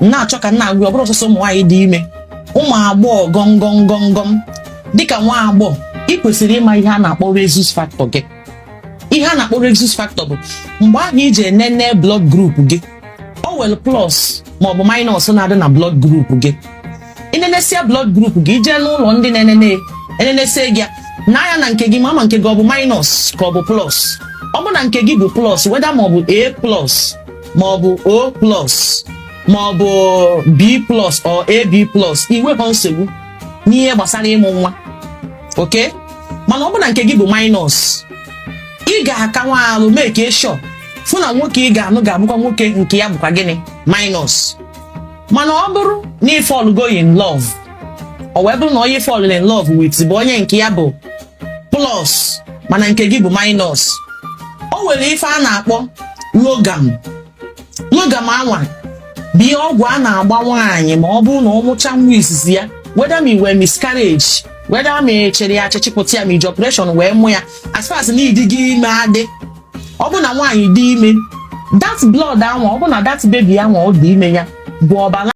m na-achọ ka m na-agwa ọ bụrọ sọsọ ụmụ nwaanyị dị ime ụmụ agbọghọ gọngọm gọngọm dịka nwa agbọghọ ị kwesịrị ịma ihe a na-akpọ rhesus factor gị ihe a na-akpọ rhesus factor bụ mgbe ahụ i ji enene blood group gị o nwelu plus maọbụ minus na-adị na blood group gị i nenesịa blood group gị i jee n'ụlọ ndị na-enene enenesie gị ya anya na nke gị ma ma nke gị ọ bụ minus ka ọ bụ plus ọ bụ na nke gị bụ plus whether ma ọ bụ a plus ma ọ bụ o plus ma ọ bụ b plus or ab plus i nwekọ nsogbu n'ihe gbasara ịmụ nwa okay mana ọ bụ na nke gị bụ minus ị ga-aka nwa arụ make sure fụ na nwoke ị ga-anụ ga-abụkwa nwoke nke ya bụkwa gịnị minus mana ọ bụrụ na ị fall go in love ọ wee bụrụ na onye ị fall in love with bụ onye nke ya bụ plus mana nke gị bụ minus o nwere ife a na-akpọ rhogam rhogam anwa bụ ihe ọgwụ a na-agba nwaanyị ma ọ bụrụ na ọ mụcha nwa izizi ya whether ma i nwee miscarriage whether ma e chịrị ya achị chịpụta ya ma i ji operation wee mụ ya as far as na ị dịgo ime adị ọ bụ na nwaanyị dị ime that blood anwa ọ bụ na that baby anwa ọ dị ime ya bụ ọbara